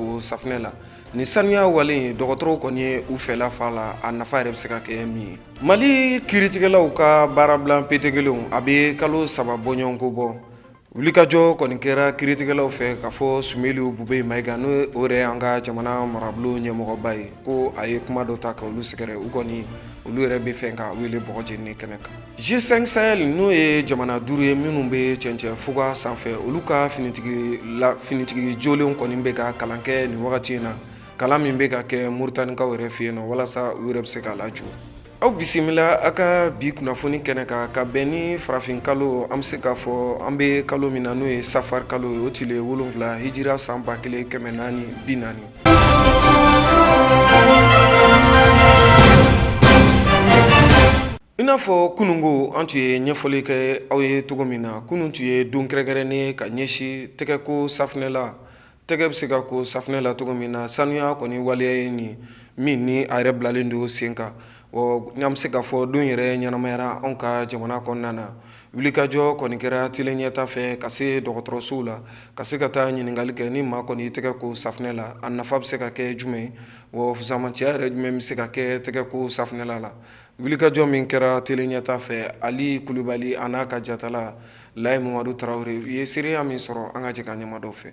o safinɛ la ni sanuya wale ye dɔgɔtɔrɔw kɔni ye u fɛla f'a la a nafa yɛrɛ bɛ se ka kɛ min ye mali kiritigɛlaw ka baarabila petekelenw a bɛ kalo saba bɔɲɔgɔnko bɔ wulikajɔ kɔni kɛra kiritigɛlaw fɛ k'a fɔ sumeyilu bubeyi mayiga n'o yɛrɛ an ka jamana marabolo ɲɛmɔgɔba ye ko a ye kuma dɔ ta ka olu sɛgɛrɛ u kɔni olu yɛrɛ b'a fɛ k'a wele bɔgɔjeni kɛnɛ kan G5 Sahel n'o ye jamana duuru ye minnu bɛ cɛncɛn fuga sanfɛ olu ka finitigi jolenw kɔni bɛ ka kalan kɛ nin wagati in na kalan min bɛ ka kɛ Moritanikaw yɛrɛ fɛ yen nɔ walasa u yɛrɛ bɛ se k'a lajɔ aw bisimila a ka bi kunnafoni kɛnɛ kan ka bɛn ni farafin kalo an bɛ se k'a fɔ an bɛ kalo min na n'o ye safari kalo ye o tile wolonfila hijira san ba kelen kɛmɛ naani bi naani I n'a fɔ kununko an tun ye ɲɛfɔli kɛ aw ye cogo min na kunun tun ye don kɛrɛnkɛrɛnnen ka ɲɛsin tɛgɛko safinɛ la tɛgɛ bɛ se ka ko safinɛ la cogo min na sanuya kɔni waleya ye nin min ni a yɛrɛ bilalen don sen kan ɔ n'an bɛ se k'a fɔ don yɛrɛ ɲɛnamayara anw ka jamana kɔnɔna na wulikajɔ kɔni kɛra tele ɲɛta fɛ ka se dɔgɔtɔrɔsow la ka se ka taa ɲininkali kɛ ni maa kɔni tɛgɛ ko safinɛ la a nafa bɛ se ka kɛ jumɛn ye ɔ fusamanciya yɛrɛ jumɛn bɛ se ka kɛ tɛgɛko safinɛ la la wulikajɔ min kɛra tele ɲɛta fɛ ali kulubali a n'a ka jatala layi mamadu tarawele u ye seereya min sɔrɔ an ka jɛ ka ɲɛma dɔ fɛ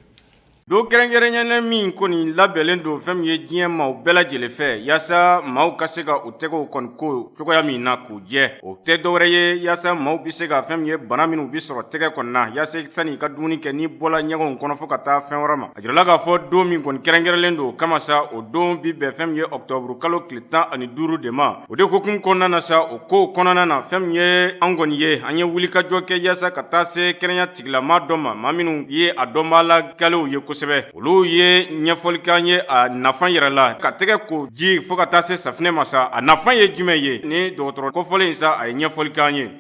don kɛrɛnkɛrɛnnen min kɔni labɛnlen don fɛn min ye diɲɛ maaw bɛɛ lajɛlen fɛ yaasa maaw ka se ka u tɛgɛw kɔni ko cogoya min na k'u jɛ o tɛ dɔwɛrɛ ye yaasa maaw be se ka fɛn min ye bana minw be sɔrɔ tɛgɛ kɔni na yaasa sani i ka dumuni kɛ n'i bɔla ɲɛgɛnw kɔnɔ fɔɔ ka taa fɛn wɛrɛ ma a jirala k'a fɔ don min kɔni kɛrɛnkɛrɛnlen don o kama sa o don bi bɛn fɛn min ye ɔktɔburu kalo tile tan ani duuru de ma o de hukumu kɔnɔna na sa o kow kɔnɔna na fɛn min ye an kɔni ye an ye wulikajɔ kɛ yaasa ka taa se kɛnɛya tigilama dɔ ma maa minnu ye a dɔnbaa la galew ye kosɛbɛ olu ye ɲɛfɔli k'an ye a nafan yɛrɛ la ka tɛgɛ ko ji fɔɔ ka taa se safinɛ ma sa a nafan ye jumɛn ye ni dɔgɔtɔrɔ kofɔlen in sa a ye ɲɛfɔli k'an ye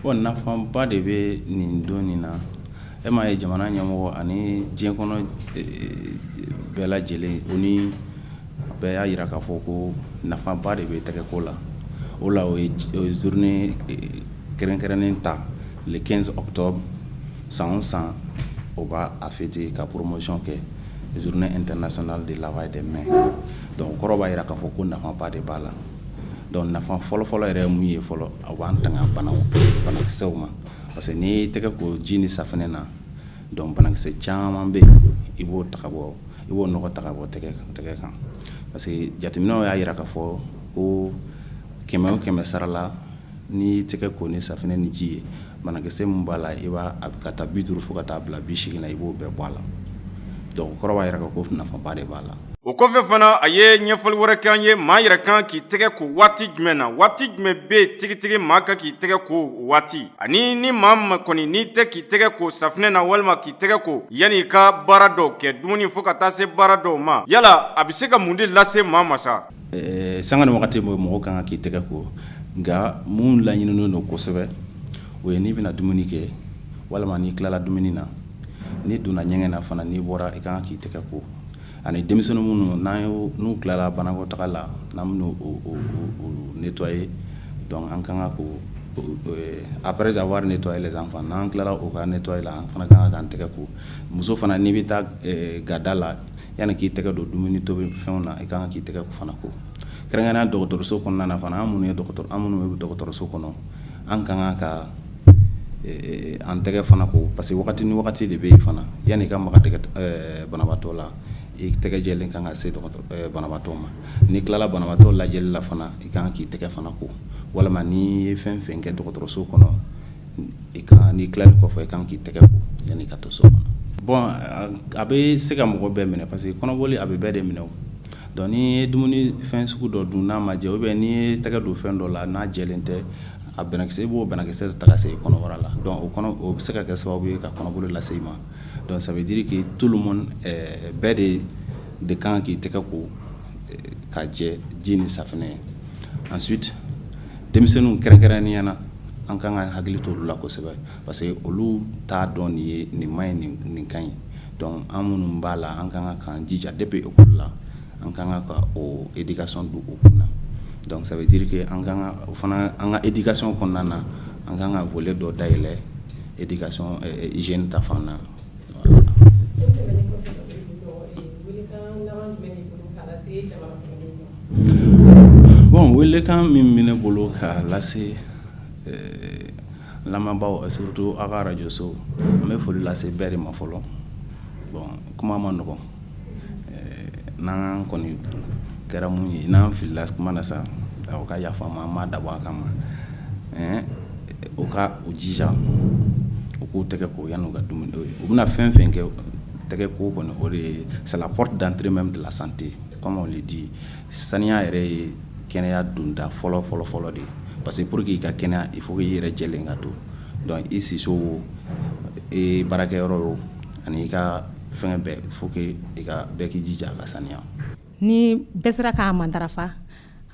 Bon nafaba de bɛ nin don nin na e m'a ye jamana ɲɛmɔgɔ ani diɲɛ kɔnɔ bɛɛ lajɛlen o ni bɛɛ y'a yira k'a fɔ ko nafaba de bɛ tɛgɛko la o la o ye journée kɛrɛnkɛrɛnnen ta le quinze octobre san o san o b'a fêter ka promotion kɛ journée internationale de lavage des mains donc o kɔrɔ b'a yira k'a fɔ ko nafaba de b'a la donc nafa fɔlɔfɔlɔ yɛrɛ mun ye fɔlɔ a b'an tanga bana banakisɛw ma parce que n'i tɛgɛ ko ji ni safinɛ na donc banakisɛ caman bɛ i b'o ta bɔ i b'o nɔgɔ ta ka bɔ tɛgɛ tɛgɛ kan parce que jateminɛw y'a yira k'a fɔ ko kɛmɛ o kɛmɛ sarala n'i y'i tɛgɛ ko ni safinɛ ni ji ye banakisɛ min b'a la i b'a a bɛ k'a ta bi duuru fo ka taa bila bi seegin na i b'o bɛɛ bɔ a la donc kɔrɔ b'a yira ko nafaba de b'a la o kɔfɛ fana a ye ɲɛfɔli wɛrɛ k'an ye maa yɛrɛ kan k'i tɛgɛ ko waati jumɛn na waati jumɛn bɛ tigitigi maa kan k'i tɛgɛ ko waati ani ni maa ma kɔni n'i tɛ k'i tɛgɛ ko safinɛ na walima k'i tɛgɛ ko yanni i ka baara dɔw kɛ dumuni fo ka taa se baara dɔw ma yala a bɛ se ka mun de lase maa ma sa Sanga ni waati mɔgɔ kan ka k'i tɛgɛ ko nka minnu laɲininen don kosɛbɛ o ye n'i bɛna dumuni kɛ walima n'i tilala dumuni na n'i donna ɲɛgɛn na fana n'i bɔra i kan k'i tɛgɛ ko ani denmisɛnnin minnu n'a ye n'u tilala banakɔtaa la n'an b'u nettoyer an kan ka ko après avoir nettoyé les enfants n'an tilala u ka nettoyer la an fana kan ka k'an tɛgɛ ko muso fana n'i bɛ taa gada la Yanni k'i tɛgɛ don dumuni tobi fɛnw na i ka kan k'i tɛgɛ fana ko kɛrɛnkɛrɛn dɔgɔtɔrɔso kɔnɔna na fana an minnu ye an minnu bɛ dɔgɔtɔrɔso kɔnɔ an ka kan ka an tɛgɛ fana ko parce que wagati ni wagati de bɛ yen fana yanni i ka maga banabagatɔ la i tɛgɛ jɛlen kan ka se banabagatɔ ma n'i tilala banabagatɔ lajɛli la fana i ka kan k'i tɛgɛ fana ko walima n'i ye fɛn fɛn kɛ dɔgɔtɔrɔso kɔnɔ i ka n'i tilali kɔfɛ i kan k'i tɛgɛ ko yanni i ka don so kɔnɔ bon a bɛ se ka mɔgɔ bɛɛ minɛ parce que kɔnɔboli a bɛ bɛɛ de minɛ donc n'i ye dumuni fɛn sugu dɔ dun n'a ma jɛ ou bien n'i ye tɛgɛ don fɛn dɔ la n'a jɛlen tɛ a banakisɛ i b'o banakisɛ ta ka se i kɔnɔbara la o o bɛ se ka kɛ sababu ye ka kɔnɔboli lase i ma donc ça veut dire que tout le monde bɛɛ de de kan k'i tɛgɛ ko ka jɛ ji ni safunɛ ye ensuite denmisɛnninw kɛrɛnkɛrɛnnenya na an ka kan ka hakili to olu la kosɛbɛ parce que olu t'a dɔn nin ye nin man ɲi nin ka ɲi donc an minnu b'a la an ka kan k'an jija depuis école la an ka kan ka o éducation don u kun na donc ça veut dire que an fana an ka éducation kɔnɔna na an ka kan ka volet dɔ dayɛlɛ éducation hygiène ta fan na Bon welekan min bɛ ne bolo ka lase lamɛnbaaw surtout a ka arajoso n bɛ foli lase bɛɛ de ma fɔlɔ bon kuma man nɔgɔ N'an kɔni kɛra minnu ye n'an filila kuma na sa u ka yafa ma an m'a dabɔ a kama u ka u jija u k'u tɛgɛ ko yann'u ka dumuni kɛ u bɛna fɛn fɛn kɛ tɛgɛ ko kɔni o de ye c'est la porte d'entrée même de la santé comme on le dit saniya yɛrɛ ye kɛnɛya donda fɔlɔ fɔlɔ fɔlɔ de ye parce que pour que i ka kɛnɛya il faut i yɛrɛ jɛlen ka to donc i siso baarakɛyɔrɔ o ani i ka fɛn bɛɛ faut que i ka bɛɛ k'i jija a ka saniya ni bɛɛ sera k'a matarafa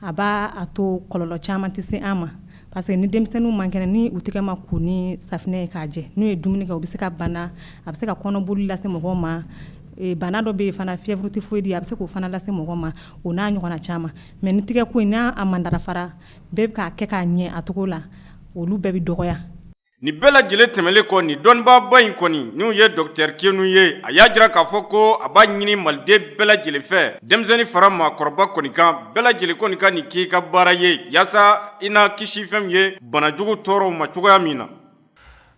a b'a to kɔlɔlɔ caman tɛ se an ma parce que ni denmisɛnninw man kɛnɛ ni u tɛgɛ ma ko ni safinɛ ye k'a jɛ n'u ye dumuni kɛ u bɛ se ka bana a bɛ se ka kɔnɔboli lase mɔgɔ ma bana dɔ bɛ yen fana fièvre typhoïde a bɛ se k'o fana lase mɔgɔ ma o n'a ɲɔgɔnna caman mais ni tɛgɛ ko n'a matarafara bɛɛ bɛ k'a kɛ k'a ɲɛ a cogo la olu bɛɛ bɛ dɔgɔya Nin bɛɛ lajɛlen tɛmɛnlen kɔ nin dɔnnibaaba in kɔni n'u ye Docteur Keynu ye, a y'a jira k'a fɔ ko a b'a ɲini Maliden bɛɛ lajɛlen fɛ, denmisɛnnin fara maakɔrɔba kɔni kan, bɛɛ lajɛlen kɔni ka nin kɛ i ka baara ye yaasa i na kisi fɛn min ye bana jugu tɔɔrɔw ma cogoya min na.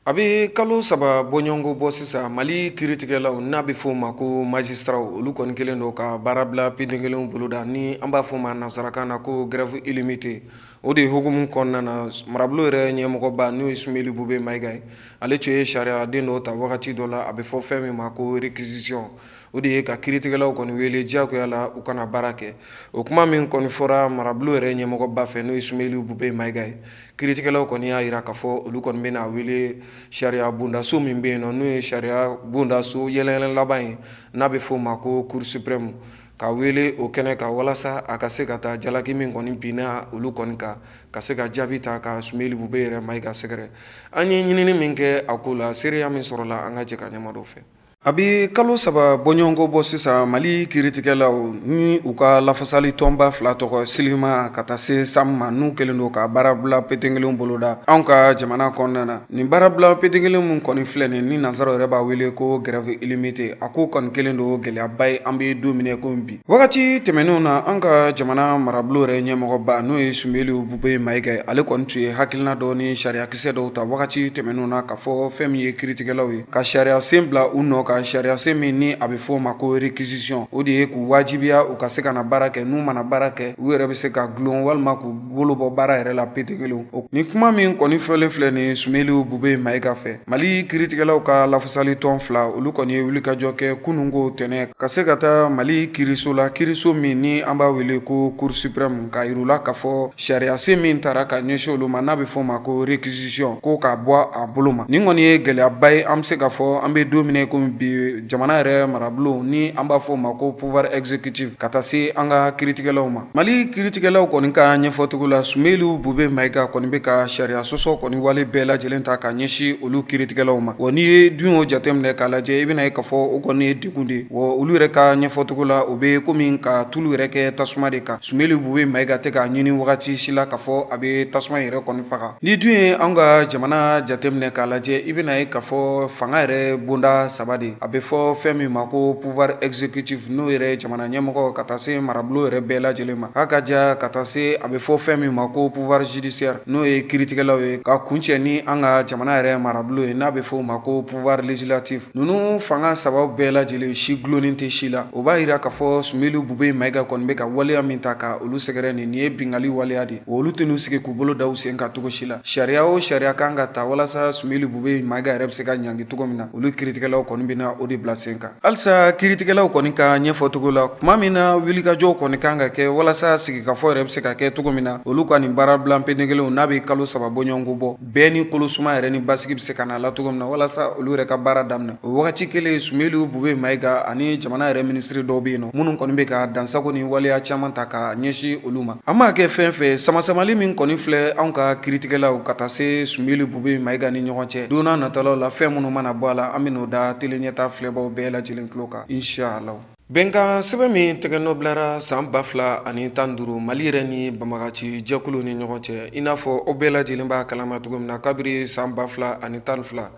A bɛ kalo saba bɔɲɔgɔnko bɔ sisan, Mali kiritigɛlaw n'a bɛ f'o ma ko magistrats olu kɔni kɛlen don ka baarabila petenkelenw boloda ni an b'a f'o ma nansarakan na ko grève illimitée o de hukumu kɔnɔna na marabolo yɛrɛ ɲɛmɔgɔba n'o ye Sumeli Bube Mayiga ye ale tun ye sariya den dɔw ta wagati dɔ la a bɛ fɔ fɛn min ma ko réquisition o de ye ka kiritigɛlaw kɔni wele diyagoya la u ka na baara kɛ o kuma min kɔni fɔra marabolo yɛrɛ ɲɛmɔgɔba fɛ n'o ye Sumeli Bube Mayiga ye kiritigɛlaw kɔni y'a jira k'a fɔ olu kɔni bɛna wele sariya bondaso min bɛ yen nɔ n'o ye sariya bondaso yɛlɛyɛlɛ laban ye n'a bɛ f'o ma ko Cour suprême ka wele o kɛnɛ kan walasa a ka se ka taa jalaki min kɔni binna olu kɔni kan ka se ka jaabi ta ka Sumeli Bube yɛrɛ Mayiga sɛgɛrɛ an ye ɲinini min kɛ a ko la seereya min sɔrɔla an ka jɛ ka ɲɛ mada o fɛ a bɛ kalo saba bɔɲɔgɔnko bɔ sisan mali kiritigɛlaw ni u ka lafasali tɔnba fila tɔgɔ SYLIMA ka taa se SAM ma n'u kɛlen don ka baarabila petenkelen boloda anw ka jamana kɔnɔna na Nin baarabila petenkelen min kɔni filɛ nin ni nansaraw yɛrɛ b'a wele ko grève illimitée a ko kɔni kɛlen don gɛlɛyaba ye an bɛ don min na komi bi wagati tɛmɛnenw na an ka jamana marabolo yɛrɛ ɲɛmɔgɔba n'o ye Sumeli Bube Mayiga ye ale kɔni tun ye hakilina dɔ ni sariyakisɛ dɔw ta wagati tɛmɛnenw na k'a fɔ fɛn min ye kiritigɛlaw ye ka sariya sen bila u nɔ ka sariya sen min ni a bɛ f'o ma ko réquisition o de ye k'u wajibiya u ka se ka na baara kɛ n'u ma na baara kɛ u yɛrɛ bɛ se ka dulon walima k'u bolo bɔ baara yɛrɛ la petenkelen o nin kuma min kɔni fɔlen filɛ nin Sumeli Bube Mayiga fɛ mali kiritigɛlaw ka lafasali tɔn fila olu kɔni ye wulikajɔ kɛ kunun ko tɛnɛn ka se ka taa mali kiriso la kiriso min ni an b'a wele ko Cour suprême k'a yira u la k'a fɔ sariyasen min tara ka ɲɛsin olu ma n'a bɛ f'o ma ko réquisition ko k'a bɔ a bolo ma nin kɔni ye gɛlɛyaba ye an bɛ se k'a fɔ an bɛ don min na komi bi jamana yɛrɛ marabolo ni an b'a fɔ o ma ko pouvoir exécutif ka taa se an ka kiritigɛlaw ma Mali kiritigɛlaw kɔni ka ɲɛfɔcogo la Sumeyilu Bube Mayiga kɔni bɛ ka sariya sɔsɔ kɔni wale bɛɛ lajɛlen ta k'a ɲɛsin olu kiritigɛlaw ma wa n'i ye dun y'o jate minɛ k'a lajɛ i bɛna ye ka fɔ o kɔni ye degun de ye wa olu yɛrɛ ka ɲɛfɔcogo la o bɛ comme ka tulu yɛrɛ kɛ tasuma de kan Sumeyilu Bube Mayiga tɛ k'a ɲini wagati si la ka fɔ a bɛ tasuma in yɛrɛ kɔni faga n'i dun ye anw ka jamana jate minɛ k'a lajɛ i bɛna ye ka fɔ fanga yɛrɛ bonda 3 de a bɛ fɔ fɛn min ma ko pouvoir exécutif n'o yɛrɛ ye jamana a ɲɛmɔgɔ ka taa se marabolo yɛrɛ bɛɛ lajɛlen ma a ka ja ka taa se a bɛ fɔ fɛn min ma ko pouvoir judiciaire n'o ye kiiritigɛlaw ye ka kuncɛ ni an ka jamana yɛrɛ marabolo ye n'a bɛ fɔ o ma ko pouvoir législatif ninnu fanga saba bɛɛ lajɛlen si dulonnen tɛ si la o b'a jira k'a fɔ Sumeyilu Bube Mayiga kɔni bɛ ka waleya min ta ka olu sɛgɛrɛ nin nin ye bingali waleya de olu tɛn'u sigi k'u bolo da u sen kan cogo si la sariya o sariya kan ka ta walasa Sumeyilu Bube Mayiga yɛrɛ bɛ se ka ɲangi cogo min na olu kiiritigɛlaw kɔni bɛna o de bila sen kan Halisa kiiritigɛlaw kɔni ka ɲɛfɔcogo la tuma min na wulikajɔw kɔni kan ka kɛ walasa sigikafɔ yɛrɛ bɛ se ka kɛ cogo min na olu ka nin baarabila penekelenw n'a bɛ kalo saba bɔɲɔgɔnko bɔ bɛɛ ni kolosuma yɛrɛ ni basigi bɛ se ka na a la cogo min na walasa olu yɛrɛ ka baara daminɛ o wagati kelen Sumeyilu Bube Mayiga ani jamana yɛrɛ minisiri dɔw bɛ yen nɔ minnu kɔni bɛ ka dansagon ni waleya caman ta ka ɲɛsin olu ma An m'a kɛ fɛn fɛ samasamali min kɔni filɛ anw ka kiiritigɛlaw ka taa se Sumeyilu Bube Mayiga ni ɲɔgɔn cɛ don nataw la fɛn minnu mana bɔ a la an bɛn'o da Tele Ɲɛta filɛbaw bɛɛ lajɛlen tulo kan inshallah bɛnkan sɛbɛn min tɛgɛnɔ bilara san ba fila ani tan duuru Mali yɛrɛ ni banbaganci jɛkulu ni ɲɔgɔn cɛ i n'a fɔ o bɛɛ lajɛlen b'a kalama cogo min na kabiri san ba fila ani tan fila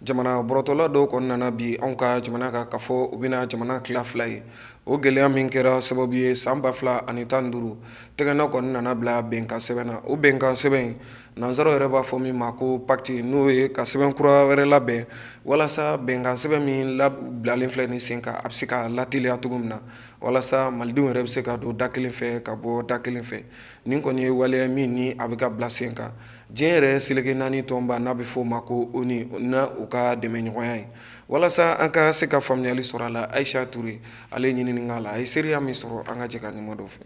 jamana bɔrɔtɔla dɔw kɔni nana bin anw ka jamana kan ka fɔ u bɛna jamana tila fila ye o gɛlɛya min kɛra sababu ye san ba fila ani tan duuru tɛgɛnɔ kɔni nana bila bɛnkan sɛbɛn na o bɛnkan sɛbɛn in nansaraw yɛrɛ b'a fɔ min ma ko pacte n'o ye ka sɛbɛn kura wɛrɛ labɛn walasa bɛnkan sɛbɛn min bilalen filɛ ni sen kan a bɛ se ka lateliya cogo min na walasa malidenw yɛrɛ bɛ se ka don da kelen fɛ ka bɔ da kelen fɛ nin kɔni ye waleya min ni a bɛ ka bila sen kan diɲɛ yɛrɛ seleke naani tɔnba n'a bɛ fɔ o ma ko ONU ni u ka dɛmɛɲɔgɔnya ye walasa an ka se ka faamuyali sɔrɔ a la Ayisa Ture ale ye ɲinini k'a la a ye seereya min sɔrɔ an ka jɛ ka ɲuman dɔ fɛ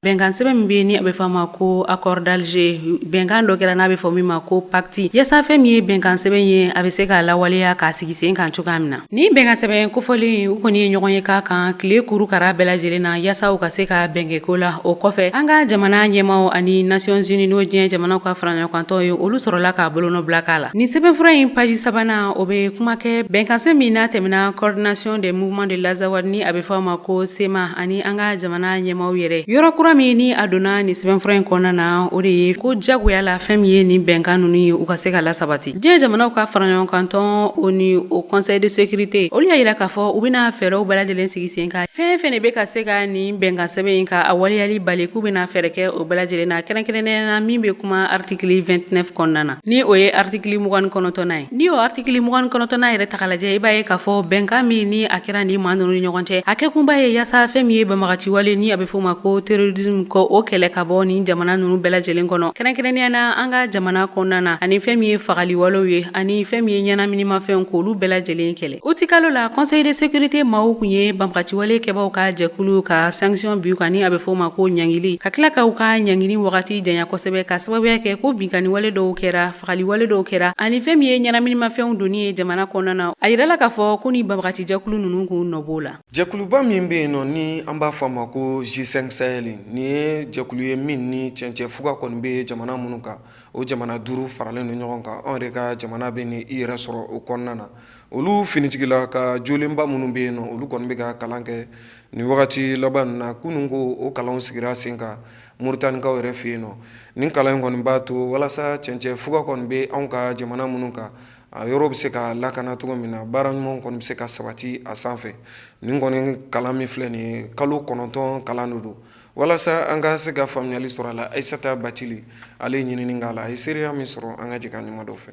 bɛnkan sɛbɛn min bɛ ni a bɛ fɔ a ma ko accord d'Alger bɛnkan dɔ kɛra n'a bɛ fɔ min ma ko pacte yasa fɛn min ye bɛnkan sɛbɛn ye a bɛ se k'a lawaleya k'a sigi sen kan cogoya min na ni bɛnkan sɛbɛn kofɔlen u kɔni ye ɲɔgɔn ye k'a kan tile kuru kara bɛɛ lajɛlen na yasa u ka se ka bɛn kɛ ko la o kɔfɛ an ka jamana ɲɛmaw ani Nations unies n'o diɲɛ jamanaw ka faraɲɔgɔnkantɔn ye olu sɔrɔla k'a bolonɔ bila k'a la Nin sɛbɛnfura in paji sabanan o bɛ kuma kɛ bɛnkansɛbɛn min n'a tɛmɛna coordination des mouvements de l'Azawad ni a bɛ fɔ a ma ko CMA ani an ka jamana ɲɛmaaw yɛrɛ yɔrɔ kura min ni a donna nin sɛbɛnfura in kɔnɔna na o de ye ko jagoya la fɛn min ye nin bɛnkan ninnu ye u ka se ka lasabati diɲɛ jamanaw ka faraɲɔgɔnkantɔn o ni o conseil de sécurité olu y'a yira k'a fɔ u bɛna fɛɛrɛw bɛɛ lajɛlen sigi sen kan fɛn fɛn de bɛ ka se ka nin bɛnkansɛbɛn in ka a waleyali bali k'u bɛna fɛɛrɛ kɛ o bɛɛ lajɛlen na kɛrɛnkɛrɛnnenya na min bɛ kuma article vingt-neuf kɔnɔna na ni o ye artikili mugan ni kɔnɔntɔnnan ye ni o artikili mugan ni kɔnɔntɔnnan yɛrɛ ta k'a lajɛ i b'a ye k'a fɔ bɛnkan min ni a kɛra ni maa nunu ni ɲɔgɔn cɛ a kɛkunba ye yaasa fɛn min ye banbagaciwale ni a bɛ fɔ o ma ko terrorisme ko o kɛlɛ ka bɔ nin jamana nunu bɛɛ lajɛlen kɔnɔ kɛrɛnkɛrɛnnenya na an ka jamana kɔnɔna na ani fɛn min ye fagaliwalew ye ani fɛn min ye ɲɛnaminimafɛnw k'olu bɛɛ lajɛlen kɛlɛ utikalo la conseil de sécurité maaw kun ye banbagaciwale kɛbaaw ka jɛkulu ka sanction bin u kan ni a bɛ fɔ o ma ko ɲangili ka tila ka u ka ɲangili wagati janya kosɛbɛ ka sababuya kɛ ko binkanniwale dɔw kɛra fagaliwale dɔw kɛra ani fɛn min ye ɲɛnaminimafɛnw donni ye jamana kɔnɔna na a yirala k'a fɔ ko nin banbagaci jɛkulu ninnu k'u nɔ b'o la jɛkuluba min bɛ yen nɔ ni an b'a fɔ a ma ko G5 Sahel nin ye jɛkulu ye min ni cɛncɛn fuga kɔni bɛ jamana minnu kan o jamana duuru faralen don ɲɔgɔn kan anw yɛrɛ ka jamana bɛ ni i yɛrɛ sɔrɔ o kɔnɔna na olu finitigila ka jolenba minnu bɛ yen nɔ olu kɔni bɛ ka kalan kɛ nin wagati laban ninnu na kunun ko o kalanw sigira sen kan moritanikaw yɛrɛ fɛ yen nɔ nin kalan in kɔni b'a to walasa cɛncɛn fuga kɔni bɛ anw ka jamana minnu kan a yɔrɔ bɛ se ka lakana cogo min na baara ɲuman kɔni bɛ se ka sabati a sanfɛ nin kɔni kalan min filɛ nin ye kalo kɔnɔntɔn kalan de don walasa an ka se ka faamuyali sɔrɔ a la ayisata bacili ale ye ɲinini k'a la a ye seereya min sɔrɔ an ka jɛ ka ɲuman dɔ fɛ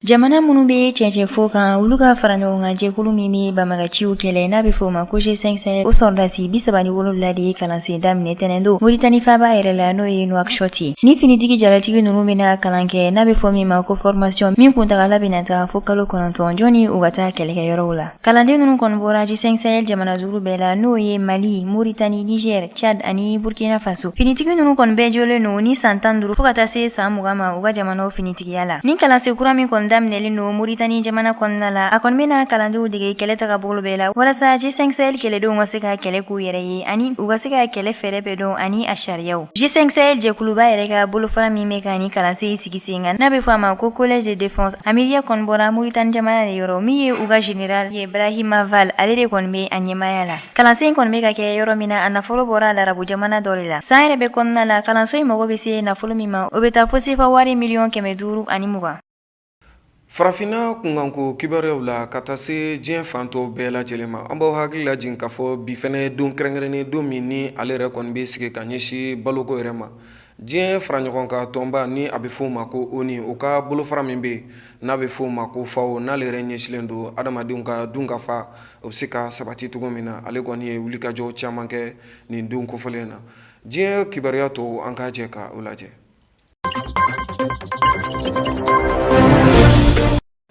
jamana minnu bɛ cɛncɛn fuga kan olu ka fara ɲɔgɔn kan jɛkulu min bɛ banbagaciw kɛlɛ n'a bɛ fɔ o ma ko G5 Sahel o sɔrɔdasi bi saba ni wolonwula de ye kalansen daminɛ tɛnɛndon moritani faaba yɛrɛ la n'o ye Nouakchott ye nin finitigi jalatigi ninnu bɛna kalan kɛ n'a bɛ fɔ min ma ko formation min kuntagala bɛna taa fo kalo kɔnɔntɔn jɔnni u ka taa kɛlɛkɛyɔrɔw la Kalanden ninnu kɔni bɔra G5 Sahel jamana duuru bɛɛ la n'o ye Mali, Mauritanie, Niger, Tchad ani Burkina Faso. Finitigi ninnu kɔni bɛɛ jɔlen don ni san tan duuru fo ka taa se san mugan ma u ka jamanaw finitigiya la. Nin kalansen kura min kɔni daminɛlen don Mauritanie jamana kɔnɔna la, a kɔni bɛna kalandenw dege kɛlɛ tagabolo bɛɛ la walasa G5 Sahel kɛlɛdenw ka se ka kɛlɛ k'u yɛrɛ ye ani u ka se ka kɛlɛ fɛɛrɛ bɛɛ dɔn ani a sariyaw. G5 Sahel jɛkuluba yɛrɛ ka bolofara min bɛ ka nin kalansen sigi sen kan n'a bɛ fɔ a ma ko collège de défense a miiriya kɔni bɔra Mauritanie jamana de yɔrɔ min ye u ka général ye Brahima Val ale de kɔni bɛ a ɲɛmaaya la kalansen in kɔni bɛ ka kɛ yɔrɔ min na a nafolo bɔra larabu jamana dɔ de la san yɛrɛ bɛɛ kɔnɔna la kalanso in mago bɛ se nafolo min ma o bɛ taa fo sefa wari miliyɔn kɛmɛ duuru ani mugan Farafinna kunkanko kibaruyaw la ka taa se diɲɛ fan tɔw bɛɛ lajɛlen ma, an b'aw hakili lajigin k'a fɔ bi fana ye don kɛrɛnkɛrɛnnen don min ni ale yɛrɛ kɔni bɛ sigi ka ɲɛsin baloko yɛrɛ ma. Diɲɛ faraɲɔgɔnkan tɔnba ni a bɛ f'o ma ko ONU, o ka bolofara min bɛ yen n'a bɛ f'o ma ko FAO, n'ale yɛrɛ ɲɛsilen don adamadenw ka dunkafa o bɛ se ka sabati cogo min na, ale kɔni ye wulikajɔ caman kɛ nin don kofɔlen in na. Diɲɛ kibaruya tɔw, an ka jɛ ka o lajɛ.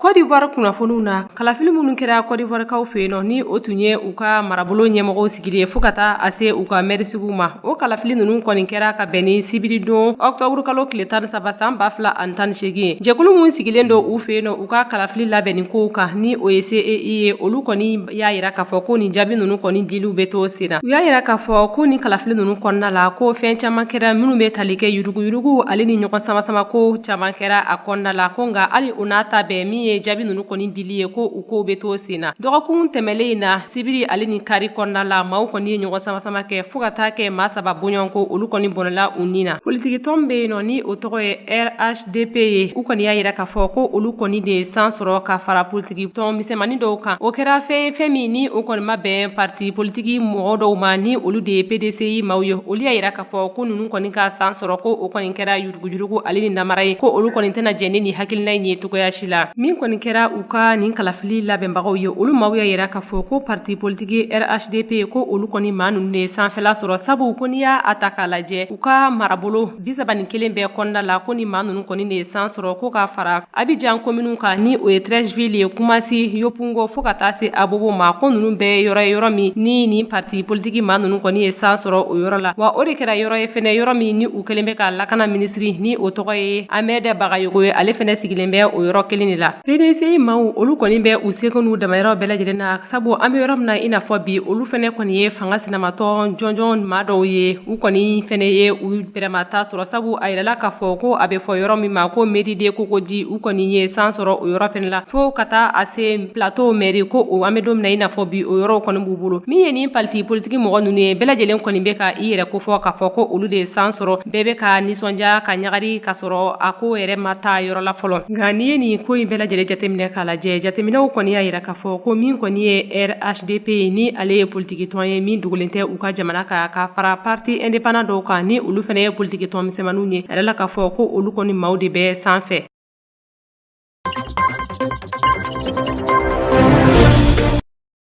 kɔdiwari kunnafoniw na kalafili minnu kɛra kɔdiwarikaw fɛ yen nɔ ni o tun ye u ka marabolo ɲɛmɔgɔw sigili ye fɔɔ ka taa a se u ka mɛrisigiw ma o kalafili ninnu kɔni kɛra ka bɛn ni sibiridon ɔktɔburukalo tile tan saba san ba fila ani tan ni segin ye jɛkulu minw sigilen don u fɛ yen nɔ u ka kalafili labɛnni kow kan ni o ye cei ye olu kɔni y'a jira k'a fɔ ko nin jaabi ninnu kɔni diliw bɛ to sen na u y'a jira k'a fɔ ko nin kalafili ninnu kɔnɔna la ko fɛn caman kɛra minnu bɛ tali kɛ yuruguyurugu ale ni ɲɔgɔn samasama ko caman kɛra a kɔnɔna la ko nka hali o n'a ta bɛɛ min ye jaabi ninnu kɔni dili ye ko u kow bɛ to sen na dɔgɔkun tɛmɛlen in na sibiri ale ni kari kɔnɔna la maaw kɔni ye ɲɔgɔn samasama kɛ fɔɔ ka taa kɛ maa saba bɔɲɔn ko olu kɔni bɔnɛla u ni na politikitɔn bɛ yen nɔ ni o tɔgɔ ye rh dp ye u kɔni y'a jira k'a fɔ ko olu kɔni de ye san sɔrɔ ka fara politikitɔn misɛnmanin dɔw kan o kɛra fɛn ye fɛn min ni o kɔni ma bɛn parti politiki mɔgɔ dɔw ma ni olu de ye pdci maaw ye olu y'a jira k'a fɔ ko ninnu kɔni ka san sɔrɔ ko o kɔni kɛra yurugujurugu ale ni namara ye ko olu kɔni tɛna jɛn ni nin hakilina in ye cogoya si la min kɔni kɛra u ka nin kalafili labɛnbagaw ye olu maaw y'a jira k'a fɔ ko parti politiki rhdp ko olu kɔni maa ninnu de ye sanfɛla sɔrɔ sabu ko n'i y'a ta k'a lajɛ u ka marabolo bisaban ni kelen bɛɛ kɔnɔna la ko ni maa ninnu kɔni de ye san sɔrɔ ko ka fara abijan kominiw kan ni o ye trɛsifili ye kumasi yopugon fo ka taa se abobo ma ko ninnu bɛɛ yɔrɔ ye yɔrɔ min ni ni parti politiki maa ninnu kɔni ye san sɔrɔ o yɔrɔ la wa o de kɛra yɔrɔ ye fana yɔrɔ min ni u kelen bɛ ka lakana minisiri ni o tɔgɔ ye amɛdɛ bagayogo ye ale fana sigilen bɛ o yɔrɔ kelen de la pdci maaw olu kɔni bɛ u seko n'u damayira bɛɛ lajɛlen na sabu an bɛ yɔrɔ min na i n'a fɔ bi olu fana kɔni ye fanga sinamatɔn jɔnjɔn maa dɔw ye u kɔni fana ye u bɛrɛma ta sɔrɔ sabu a yirala k'a fɔ ko a bɛ fɔ yɔrɔ min ma ko mɛri de kokoji u kɔni ye san sɔrɔ o yɔrɔ fana la fo ka taa a se plato mɛri ko o an bɛ don min na i n'a fɔ bi o yɔrɔw kɔni b'u bolo min ye nin paliti politiki mɔgɔ ninnu ye bɛɛ lajɛlen kɔni bɛ ka i yɛrɛ kofɔ k'a fɔ ko olu de ye san sɔrɔ bɛɛ bɛ ka nisɔndiya ka ɲagari k'a sɔrɔ a ko yɛrɛ ma taa yɔrɔ la fɔlɔ nka n'i ye nin ko in bɛɛ lajɛlen jateminɛ k'a lajɛ jateminɛw kɔni y'a yira k'a fɔ ko min kɔni ye rhdp ye ni ale ye politikitɔn ye min dogolen tɛ u ka jamana kan ka fara parti indépendant dɔw kan ni olu fana ye politikitɔn misɛnmaninw ye a yirala k'a fɔ ko olu kɔni maaw de bɛ sanfɛ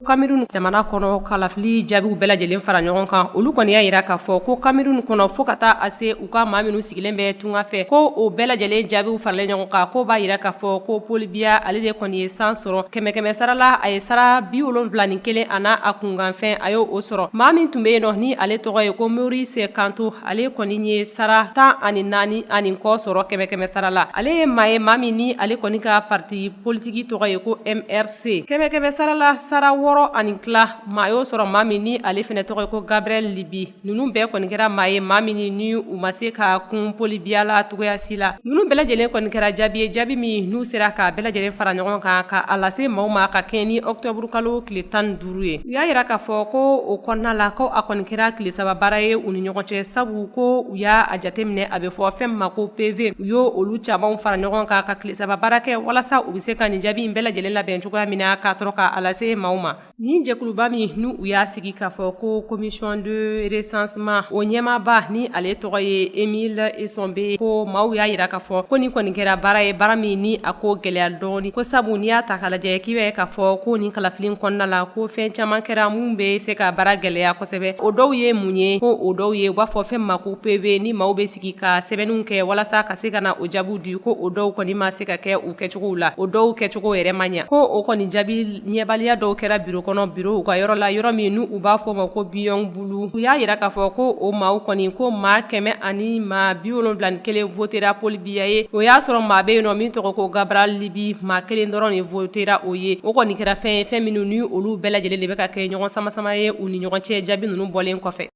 kamerun jamana kɔnɔ kalafili jaabiw bɛɛ lajɛlen fara ɲɔgɔn kan olu kɔni y'a jira k'a fɔ ko kamerun kɔnɔ fɔɔ ka taa a se u ka maa minnu sigilen bɛ tunga fɛ ko o bɛɛ lajɛlen jaabiw faralen ɲɔgɔn kan ko b'a yira k'a fɔ ko Paul Biya ale de kɔni ye san sɔrɔ kɛmɛ kɛmɛ sara la a ye sara bi wolonwula ni kelen a n'a a kunkanfɛn a y' o sɔrɔ maa min tun bɛ yen nɔ ni ale tɔgɔ ye ko Maurice Kamto ale kɔni ye sara tan ani naani ani kɔ sɔrɔ kɛmɛ kɛmɛ sara la ale ye maa ye maa min ni ale kɔni ka parti politiki tɔgɔ ye ko MRC kɛmɛ kɛmɛ sara la sara wɔɔrɔ ani tila maa y'o sɔrɔ maa min ni ale fɛnɛ tɔgɔ ye ko Cabral Libii nunu bɛɛ kɔni kɛra maa ye maa min ni u ma se ka kun Paul Biya la cogoya si la nunu bɛɛ lajɛlen kɔni kɛra jaabi ye jaabi min n'u sera ka bɛɛ lajɛlen fara ɲɔgɔn kan ka a lase maaw ma ka kɛɲɛ ni ɔkutɔburukalo tile tan duuru ye u y'a yira k'a fɔ ko o kɔnɔna la ko a kɔni kɛra tile saba baara ye u ni ɲɔgɔn cɛ sabu ko u y'a a jateminɛ a bɛ fɔ fɛn ma ko PV u y'o olu camanw fara ɲɔgɔn kan ka tile saba baara kɛ walasa u bɛ se ka nin jaabi in bɛɛ lajɛlen labɛn cogoya min na k'a sɔrɔ k'a lase maaw ma Nin jɛkuluba min n'u y'a sigi k'a fɔ ko commission de recensement o ɲɛmaaba ni ale tɔgɔ ye Emile Essombe ko maaw y'a yira k'a fɔ ko nin kɔni kɛra baara ye baara min ni a ko gɛlɛya dɔɔnin ko sabu n'i y'a ta k'a lajɛ k'i b'a ye k'a fɔ ko nin kalafili kɔnɔna la ko fɛn caman kɛra min bɛ se ka baara gɛlɛya kosɛbɛ o dɔw ye mun ye ko o dɔw ye u b'a fɔ fɛn ma ko PV ni maaw bɛ sigi ka sɛbɛnniw kɛ walasa ka se ka na o jaabiw di ko o dɔw kɔni ma se ka kɛ kɛcogow la o dɔw kɛcogo yɛrɛ ma ɲa ko o kɔni jaabi ɲɛbaliya dɔw kɛra biro kɔnɔ biro u ka yɔrɔ la yɔrɔ min n'u b'a fɔ ma ko Biwong Bulu u y'a yira k'a fɔ ko o maaw kɔni ko maa kɛmɛ ani maa bi wolonwula ni kelen votera Paul Biya ye o y'a sɔrɔ maa bɛ yen nɔ min tɔgɔ ko Cabral Libii maa kelen dɔrɔn de votera o ye o kɔni kɛra fɛn ye fɛn minnu ni olu bɛɛ lajɛlen de bɛ ka kɛ ɲɔgɔn samasama ye u ni ɲɔgɔn cɛ jaabi ninnu bɔlen kɔfɛ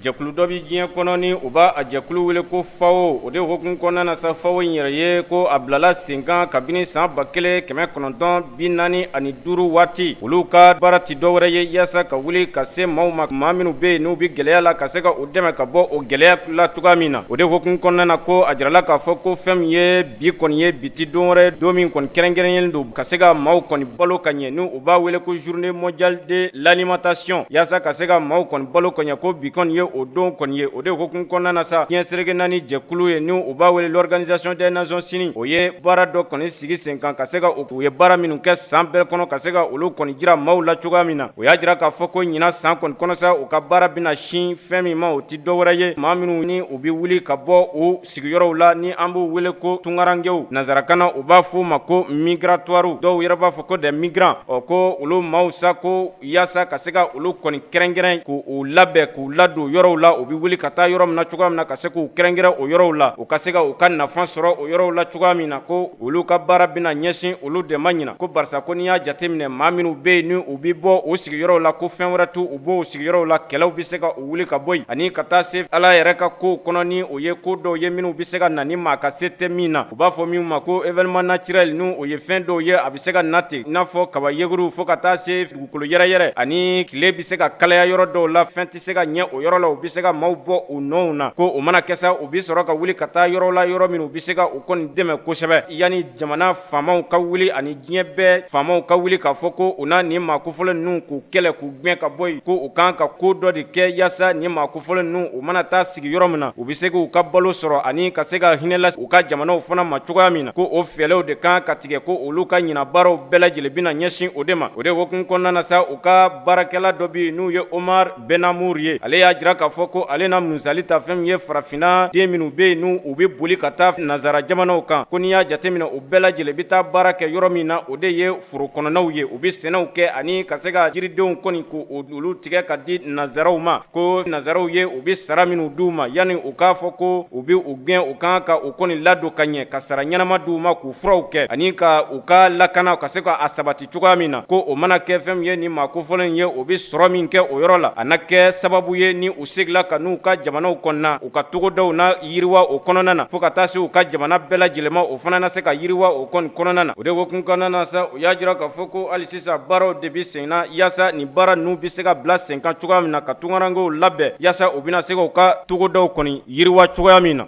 Jɛkulu dɔ bi diɲɛ kɔnɔ ni u b'a a jɛkulu wele ko FAO o de hukumu kɔnɔna na sa FAO in yɛrɛ ye ko a bilala sen kan kabini san ba kelen kɛmɛ kɔnɔntɔn bi naani ani duuru waati olu ka baara ti dɔwɛrɛ ye yaasa ka wuli ka se maaw ma maa minnu bɛ yen n'u bɛ gɛlɛya la ka se ka u dɛmɛ ka bɔ o gɛlɛya la cogoya min na o de hukumu kɔnɔna na ko a jirala k'a fɔ ko fɛn min ye Bi kɔni ye bi ti don wɛrɛ ye don min kɔni kɛrɛnkɛrɛnyalen don ka se ka maaw kɔni balo ka ɲɛ n' u b'a wele ko journée mondiale de l'alimentation yaasa ka se ka maaw kɔni balo ka ɲɛ ko bi kɔni ye o don kɔni ye o de hukumu kɔnɔna na sa diɲɛ seleke naani jɛkulu ye n' u b'a wele l'organisation des nations unies o ye baara dɔ kɔni sigi sen kan ka se ka u ye baara minnu kɛ san bɛɛ kɔnɔ ka se ka olu kɔni jira maaw la cogoya min na o y'a jira k'a fɔ ko ɲinan san kɔni kɔnɔ sa u ka baara bɛna na sin fɛn min ma o tɛ dɔwɛrɛ ye maa minnu ni u bɛ wuli ka bɔ u sigiyɔrɔw la ni an b'u wele ko tunkarankew nanzarakan na u b'a fɔ u ma ko migratoire dɔw yɛrɛ b'a fɔ ko des migrants ɔ ko olu maaw sa ko yaasa ka se ka olu kɔni kɛrɛnkɛrɛn k' u labɛn k'u ladon yɔrɔw la u bɛ wuli ka taa yɔrɔ min na cogoya min na ka se k'u kɛrɛnkɛrɛn o yɔrɔw la u ka se ka u ka nafa sɔrɔ o yɔrɔw la cogoya min na ko olu ka baara bɛna ɲɛsin olu de ma ɲina ko barisa ko n'i y'a jateminɛ maa minnu bɛ yen n'u bɛ bɔ u sigiyɔrɔw la ko fɛn wɛrɛ t'u bɔ u sigiyɔrɔw la kɛlɛw bɛ se ka wuli ka bɔ yen ani ka taa se ala yɛrɛ ka kow kɔnɔ ni o ye ko dɔw ye minnu bɛ se ka na ni maa ka se tɛ min na u b'a fɔ min ma ko événement naturel n'o ye fɛn dɔw ye a bɛ se ka na ten i n'a fɔ kaba yeguru fo ka taa se dugukolo yɛrɛyɛrɛ ani tile bɛ se ka kalaya yɔrɔ dɔw la fɛn tɛ se ka ɲɛ o yɔrɔ la u bɛ se ka maaw bɔ u nɔw na ko o mana kɛ sa u bɛ sɔrɔ ka wuli ka taa yɔrɔ la yɔrɔ min u bɛ se ka u kɔni dɛmɛ kosɛbɛ yanni jamana faamaw ka wuli ani diɲɛ bɛɛ faamaw ka wuli k'a fɔ ko u na nin maa kofɔlen ninnu k'u kɛlɛ k'u gɛn ka bɔ yen ko u kan ka ko dɔ de kɛ yaasa nin maa kofɔlen ninnu u mana taa sigi yɔrɔ min na u bɛ se k'u ka balo sɔrɔ ani ka se ka hinɛ lase u ka jamanaw fana ma cogoya min na ko o fɛɛlɛw de kan ka tigɛ ko olu ka ɲina baaraw bɛɛ lajɛlen bɛna ɲɛsin o de ma o de hukumu kɔnɔna na sa u ka baarakɛla dɔ bɛ yen n'u ye Omar Benamour ye ale y'a jira k'a fɔ ko ale na musali ta fɛn min ye farafinna den minnu bɛ yen ni u bɛ boli ka taa nanzara jamanaw kan ko n'i y'a jateminɛ u bɛɛ lajɛlen bɛ taa baara kɛ yɔrɔ min na o de ye foro kɔnɔnaw ye u bɛ sɛnɛw kɛ ani ka se ka jiridenw kɔni k'olu tigɛ ka di nanzaraw ma ko nanzaraw ye u bɛ sara minnu di u ma yanni u k'a fɔ ko u bɛ u gɛn u kan ka u kɔni ladon ka ɲɛ ka sara ɲɛnama di u ma k'u furaw kɛ ani ka u ka lakana ka se k'a sabati cogoya min na ko o mana kɛ fɛn min ye ni maa kofɔlenw ye u bɛ sɔrɔ min kɛ o yɔrɔ la a na kɛ sababu ye ni u segila ka n'u ka jamanaw kɔnɔna u ka togodaw na yiriwa o kɔnɔna na fo ka taa se u ka jamana bɛɛ lajɛlen ma o fana na se ka yiriwa o kɔni kɔnɔna na o de hukumu kɔnɔna na sa u y'a jira k'a fɔ ko hali sisan baaraw de bɛ senna yaasa nin baara ninnu bɛ se ka bila sen kan cogoya min na ka tunkarankew labɛn yaasa u bɛna se k'u ka togodaw kɔni yiriwa cogoya min na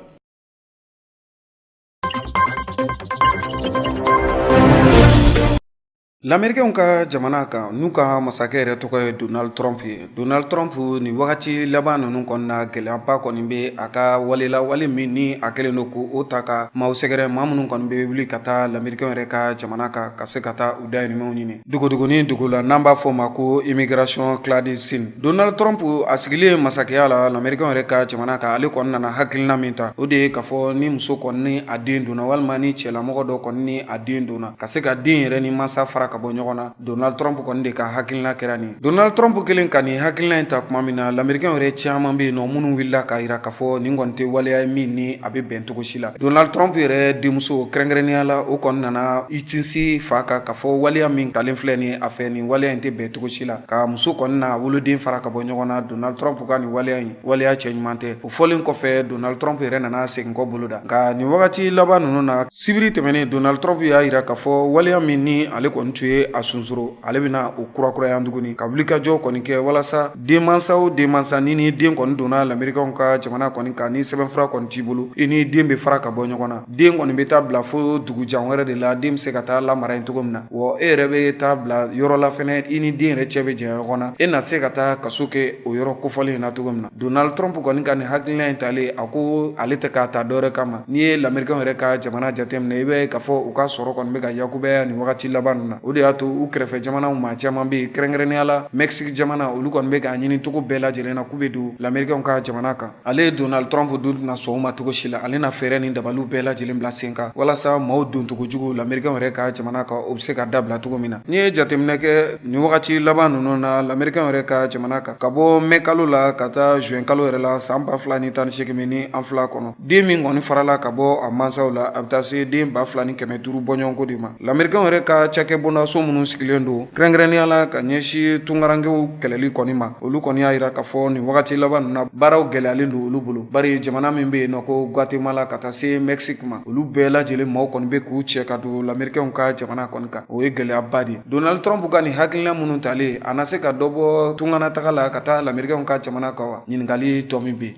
Lamerikɛnw ka jamana kan n'u ka masakɛ yɛrɛ tɔgɔ ye Donald Trump ye Donald Trump nin wagati laban ninnu kɔnɔna gɛlɛyaba kɔni bɛ a ka wale la wale min ni a kɛlen don k'o ta ka maaw sɛgɛrɛ maa minnu kɔni bɛ wuli ka taa Lamerikɛnw yɛrɛ ka jamana kan ka se ka taa u dahirimɛw ɲini Dogodogonin dogo la n'an b'a fɔ o ma ko immigration clandestine Donald Trump a sigilen masakɛya la lamerikɛnw yɛrɛ ka jamana kan ale kɔni nana hakilina min ta o de ye k'a fɔ ni muso kɔni ni a den donna walima ni cɛlamɔgɔ dɔ kɔni ni a den donna ka se ka den yɛrɛ ni mansa fara ka bɔ ɲɔgɔn na Donald Trump kɔni de ka hakilina kɛra nin Donald Trump kɛlen ka nin hakilina in ta tuma min na lamerikɛnw yɛrɛ caman bɛ yen nɔ minnu wulila k'a jira k'a fɔ nin kɔni tɛ waleya ye min ni a bɛ bɛn cogo si la donald trump yɛrɛ denmuso kɛrɛnkɛrɛnnenya la o kɔni nana i tinsi fa kan k'a fɔ waleya min talen filɛ nin a fɛ nin waleya in tɛ bɛn cogo si la ka muso kɔni n'a woloden fara ka bɔ ɲɔgɔn na donald trump ka nin waleya in waleya cɛ ɲuman tɛ o fɔlen kɔfɛ donald trump yɛrɛ nana segin kɔ bolo da nka nin wagati laban ninnu na sibiri tɛmɛnen donald trump y'a yira k'a fɔ waleya min ni ale kɔni tun ye a sunsoro ale bɛna o kurakuraya tuguni ka wulikajɔ kɔni kɛ walasa Denmansa o denmansa n'i ni den kɔni donna lamerikɛw ka jamana kɔni kan ni sɛbɛnfura kɔni t'i bolo i ni den bɛ fara ka bɔ ɲɔgɔn na den kɔni bɛ taa bila fo dugu jan wɛrɛ de la den bɛ se ka taa lamara yen cogo min na wa e yɛrɛ bɛ taa bila yɔrɔ la fɛnɛ i ni den yɛrɛ cɛ bɛ janya ɲɔgɔn na e na se ka taa kaso kɛ o yɔrɔ kofɔlen in na cogo min na donald trump kɔni ka nin hakilina in talen a ko ale tɛ k'a ta dɔwɛrɛ kama n'i ye lamerikɛw yɛrɛ ka jamana jateminɛ i b'a ye k'a fɔ u ka sɔrɔ kɔni bɛ ka yakubaya nin wagati laban nin na o de y'a to u kɛrɛfɛ jamanaw maa caman bɛ yen kɛrɛnkɛrɛnnenya la mɛsi jamana olu kɔni bɛ k'a ɲini cogo bɛɛ lajɛlen na k'u bɛ don lamerikɛw ka jamana kan ale ye donald trump dun tɛna sɔn o ma cogo si la ale na fɛɛrɛ ni dabaliw bɛɛ lajɛlen bila sen kan walasa maaw doncogo jugu lamerikɛw yɛrɛ ka jamana kan o bɛ se ka dabila cogo min na n'i ye jateminɛ kɛ nin wagati laban ninnu na lamerikɛw yɛrɛ ka jamana kan ka bɔ mɛ kalo la ka taa zuwɛn kalo yɛrɛ la san ba fila ni tan ni segin ni an fila kɔnɔ den min kɔni farala ka bɔ a mansaw la a bɛ taa se den ba fila ni kɛmɛ duuru bɔɲɔgɔnko de ma lamerikɛw yɛrɛ ka cakɛ bondaso minnu sigilen don kɛrɛnkɛrɛnnenya la ka ɲɛsin tungarankɛw kɛlɛli kɔni ma olu kɔni y'a jira k'a fɔ nin wagati laban ninnu na baaraw gɛlɛyalen don olu bolo bari jamana min bɛ yen nɔ ko gwatemala ka taa se mɛksiki ma olu bɛɛ lajɛlen maaw kɔni bɛ k'u cɛ ka don lamerikɛw ka jamana kɔni kan o ye gɛlɛyaba de ye donald trump ka nin hakilina minnu talen a na se ka dɔ bɔ tunganataga la ka taa lamerikɛw ka jamana kan wa ɲininkali tɔ min bɛ yen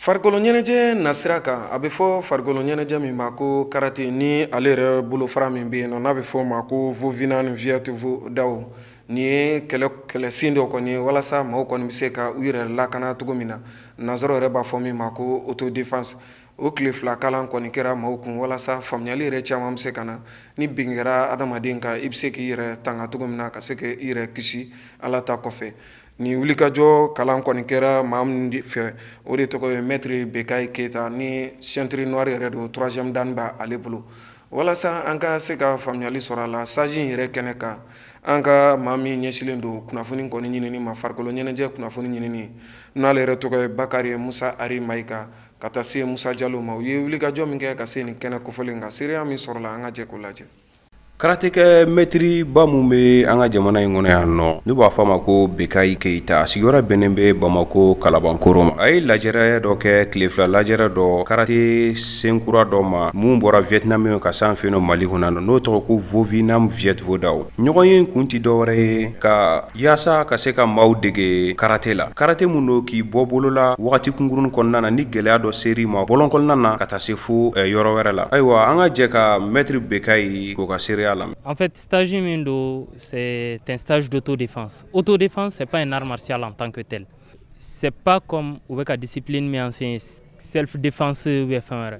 farikolo ɲɛnajɛ nasira kan a bɛ fɔ farikolo ɲɛnajɛ min ma ko karate ni ale yɛrɛ bolofara min bɛ yen nɔ n'a bɛ fɔ o ma ko vovinam vietvodaw nin ye kɛlɛ kɛlɛsen dɔ kɔni ye walasa maaw kɔni bɛ se ka u yɛrɛ lakana cogo min na nanzaraw yɛrɛ b'a fɔ min ma ko autodefense o tile fila kalan kɔni kɛra maaw kun walasa faamuyali yɛrɛ caman bɛ se ka na ni bin kɛra adamaden kan i bɛ se k'i yɛrɛ tanga cogo min na ka se k'i yɛrɛ kisi ala ta kɔfɛ nin wulikajɔ kalan kɔni kɛra maa min fɛ o de tɔgɔ ye mɛtiri bekayi keyita ni ceinture noire yɛrɛ don troisième dan b'a ale bolo walasa an ka se ka faamuyali sɔrɔ a la stage in yɛrɛ kɛnɛ kan an ka maa min ɲɛsilen don kunnafoni kɔni ɲinini ma farikolo ɲɛnajɛ kunnafoni ɲinini n'ale yɛrɛ tɔgɔ ye bakari musa ari mayiga ka taa se musa jalo ma u ye wulikajɔ min kɛ ka se nin kɛnɛ kofɔlen kan seereya min sɔrɔla an ka jɛ k'o lajɛ karatekɛ mɛtiri ba min bɛ an ka jamana in kɔnɔ yan nɔ n'u b'a fɔ a ma ko bekayi keyita a sigiyɔrɔ bɛnnen bɛ bamako kalabankoro ma a ye lajɛrɛ dɔ kɛ tile fila lajɛrɛ dɔ karate senkura dɔ ma min bɔra vietnam yen ka s'an fɛ mali kɔnɔ n'o tɔgɔ ko vovinam vietvodaw ɲɔgɔnye kun tɛ dɔwɛrɛ ye ka Yaasa ka se ka maaw dege karata la karata min don k'i bɔ bolola waati kunkurunurun kɔnɔna na ni gɛlɛya dɔ seri ma bɔ kɔnɔna na ka taa se fo yɔrɔ wɛrɛ la ayiwa an ka jɛ ka mɛtiriri bɛ ka ye k'u ka seereya la an fɛ taazsi min don sɛ tɛtazo to de o to defan sɛp ye namasiya la tankɛ tɛ sɛp kɔn u bɛ ka disip min sɛ sɛf defase bɛ fɛn wɛrɛ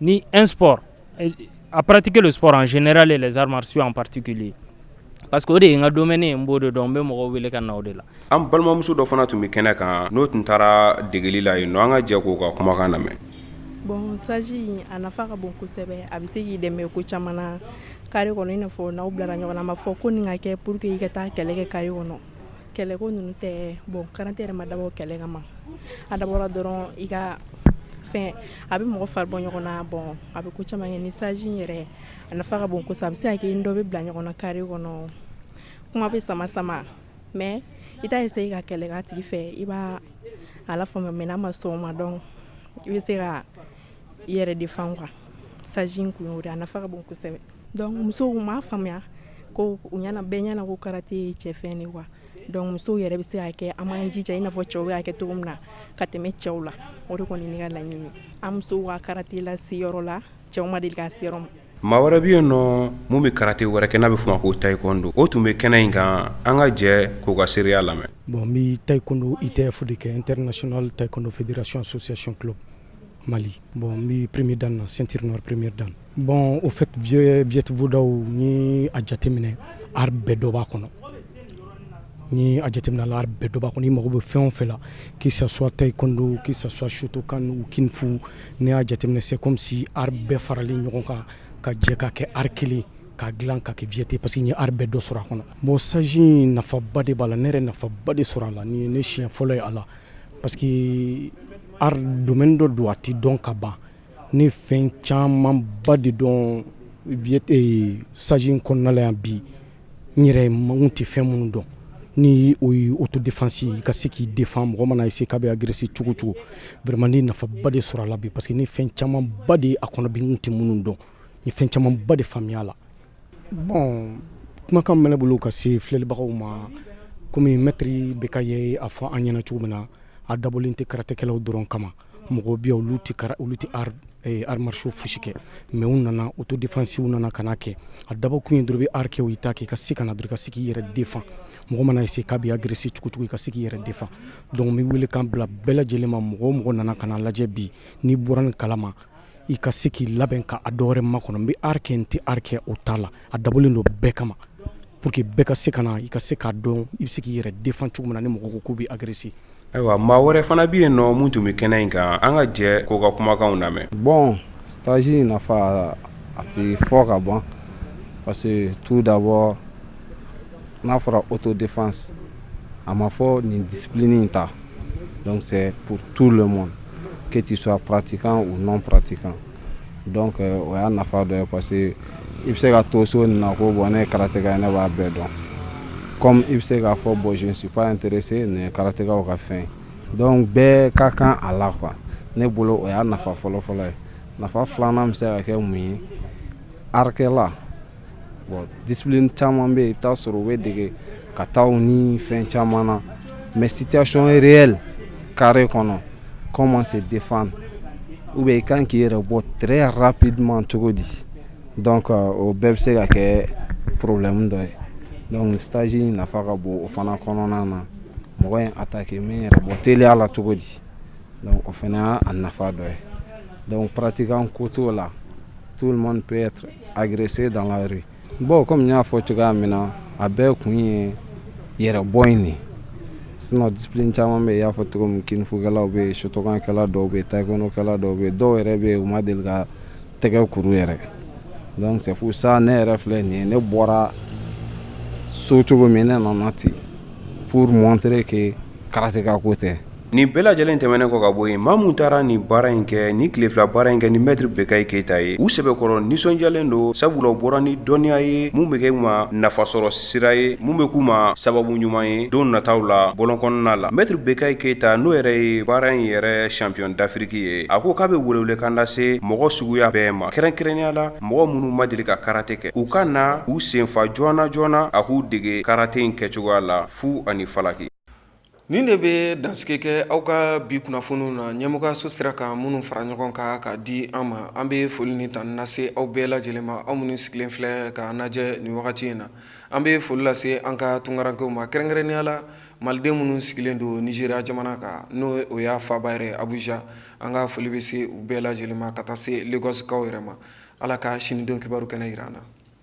Ni un sport à pratiquer le sport en général et les arts martiaux en particulier parce que o de ye n ka domaine ye n b'o de dɔn n bɛ mɔgɔw wele ka na o de la an balimamuso dɔ fana tun bɛ kɛnɛ kan n'o tun taara degeli la yen an ka jɛ k'o ka kumakan lamɛn bon stage a nafa ka bon kosɛbɛ a bɛ se k'i dɛmɛ ko caman na carré kɔnɔ i n'a fɔ n'aw bilara ɲɔgɔn na a ma fɔ ko nin ka kɛ pour que i ka taa kɛlɛ kɛ carré kɔnɔ kɛlɛ ko ninnu tɛ bon karate yɛrɛ ma dabɔ kɛlɛ kama a dabɔra dɔrɔn i ka fɛn a bɛ mɔgɔ fari bɔ ɲɔgɔn na bon a bɛ ko caman kɛ ni stage yɛrɛ a nafa ka bon kosɛbɛ a bɛ se ka kɛ dɔ bɛ bila ɲɔgɔn na carré kɔnɔ kuma bɛ sama sama mais i t'a essayer ka kɛlɛ k'a tigi fɛ i b'a lafaamuya mais n'a ma sɔn o ma donc i bɛ se ka yɛrɛ défend quoi stage kun y'o de a nafa ka bon kosɛbɛ donc musow m'a faamuya ko u ɲɛna bɛɛ ɲɛna ko karate ye cɛfɛn de quoi donc musow yɛrɛ bɛ se ka kɛ an b'an jija i n'a fɔ cɛw y'a kɛ cogo min na ka tɛmɛ cɛw la o de kɔni ne ka laɲini an musow ka karate lase yɔrɔ la cɛw ma deli ka se ma maa wɛrɛ bɛ yen nɔ min bɛ karate wɛrɛ kɛ n'a bɛ fɔ ma ko taekwondo o tun bɛ kɛnɛ in kan an ka jɛ k'o ka seereya lamɛn bon n bɛ taekwondo ITF de kɛ International Taekwondo Fédération Association Club Mali bon n bɛ premier dan na ceinture noire premier dan bon au fait Viet Viet-Vo Dao n'i ye a jateminɛ art bɛɛ dɔ b'a kɔnɔ n'i ye a jateminɛ a la art bɛɛ dɔ b'a kɔnɔ i mago bɛ fɛn o fɛn la que ça soit taekwondo que ça soit shotokan ou kung fu n'i y'a jateminɛ c'est comme si art bɛɛ faralen ɲɔgɔn kan ka jɛ ka kɛ art kelen ka dilan ka kɛ Viet ye parce que n ye art bɛɛ dɔ sɔrɔ a kɔnɔ bon stage in nafaba de b'a la ne yɛrɛ ye nafaba de sɔrɔ a la nin ye ne siɲɛ fɔlɔ ye a la parce que art domaine dɔ don a tɛ dɔn ka ban ne fɛn camanba de dɔn eh, stage in kɔnɔna la yan bi n yɛrɛ n tun tɛ fɛn minnu dɔn ni o ye autodéfense i ka se k'i défend mɔgɔ mana essayer k'a bɛ agresser cogo cogo vraiment ne nafaba de sɔrɔ a la bi parce que ne fɛn camanba de a kɔnɔ bi n tun tɛ minnu dɔn n ye fɛn camanba de faamuya a la Bon kumakan min bɛ ne bolo ka se filɛlibagaw ma kɔmi mɛtiri Bekayi y'a fɔ an ɲɛna cogo min na a dabɔlen tɛ karatekɛlaw dɔrɔn kama mɔgɔw bɛ yen olu tɛ arts martiaux foyisi kɛ mais u nana autodéfense u nana ka na kɛ a dabɔkun ye dɔrɔn i bɛ art kɛ wo i t'a kɛ i ka se ka na bi i ka se k'i yɛrɛ défend mɔgɔ mana essayer k'a bɛ agresser cogo cogo i ka se k'i yɛrɛ défend donc n bɛ welekan bila bɛɛ lajɛlen ma mɔgɔ o mɔgɔ nana ka lajɛ bi n'i bɔra nin kalama i ka se k'i labɛn ka a dɔwɛrɛ makɔnɔ n bɛ art kɛ n tɛ art kɛ o t'a la a dabɔlen don bɛɛ kama pour que bɛɛ ka se ka na i ka se k'a dɔn i bɛ se k'i yɛrɛ défend cogo min na ni mɔgɔ ko k'u bɛ agresser ayiwa maa wɛrɛ fana bɛ yen n'o mun tun bɛ kɛnɛ in kan an ka jɛ k'o ka kumakanw lamɛn bon stage in nafa a tɛ fɔ ka ban parce que tout d'abord n'a fɔra autodéfense a ma fɔ nin discipline in ta donc c'est pour tout le monde que tu sois pratiquant ou non pratiquant donc o y'a nafa dɔ ye parce que i bɛ se ka to so nin na ko bon ne ye karateka ye ne b'a bɛɛ dɔn comme i bɛ se k'a fɔ bon je suis pas intéressé nin karatekaw ka fɛn don bɛɛ ka kan a la quoi ne bolo o y'a nafa fɔlɔfɔlɔ ye nafa filanan bɛ se ka kɛ mun ye artkɛla Bon discipline caman bɛ yen i bɛ taa sɔrɔ u bɛ dege kataw ni fɛn caman na mais situation réelle carré kɔnɔ comment se défendre ou bien i kan k'i yɛrɛ bɔ très rapidement cogo di donc o bɛɛ bɛ se ka kɛ problème dɔ ye donc stage in nafa ka bon o fana kɔnɔna na mɔgɔ in attaquer min yɛrɛ bɔ teliya la cogo di donc o fana y'a nafa dɔ ye donc pratiquant ko t'o la Tu man pe arese dan baw kɔmi y'a fɔ cogoya min na a bɛɛ kun ye yɛrɛ bɔ in de sun di caman bɛ y'a fɔ cogo min kfkɛlaw bɛ sutɔkɛla dɔw bɛ takɛla dɔw bɛ dɔw yɛrɛ bɛ u ma deli ka tɛgɛ kuru yɛrɛ sabu sa ne yɛrɛ filɛ nin ye ne bɔra so cogo min ne nana ten pure mɔnte ke karata ko tɛ Nin bɛɛ lajɛlen tɛmɛnen kɔ ka bɔ yen maa minnu taara nin baara in kɛ nin tile fila baara in kɛ ni maître Bekayi Keyita ye u sɛbɛkɔrɔ nisɔndiyalen don sabula u bɔra ni dɔnniya ye mun bɛ k'u ma nafasɔrɔ sira ye mun bɛ k'u ma sababu ɲuman ye don nataw la bɔlɔn kɔnɔna la maître Bekayi Keyita n'o yɛrɛ ye baara in yɛrɛ champion d'Afrique ye a ko k'a bɛ welewelekan lase mɔgɔ suguya bɛɛ ma kɛrɛnkɛrɛnnenya la mɔgɔ minnu ma deli ka karate kɛ u ka na u senfa joona joona a k'u dege karate in kɛcogoya la fu ani falaki Nin de bɛ dansigi kɛ aw ka bi kunnafoniw na ɲɛmɔgɔyaso sera ka minnu fara ɲɔgɔn kan k'a di an ma an bɛ foli ni tanu lase aw bɛɛ lajɛlen ma aw minnu sigilen filɛ k'an lajɛ nin wagati in na an bɛ foli lase an ka tunkarankew ma kɛrɛnkɛrɛnnenya la maliden minnu sigilen don Nizeriya jamana kan n'o y'a faaba yɛrɛ Abuja an ka foli bɛ se u bɛɛ lajɛlen ma ka taa se Lagosikaw yɛrɛ ma ala ka sini don kibaru kɛnɛ jira an na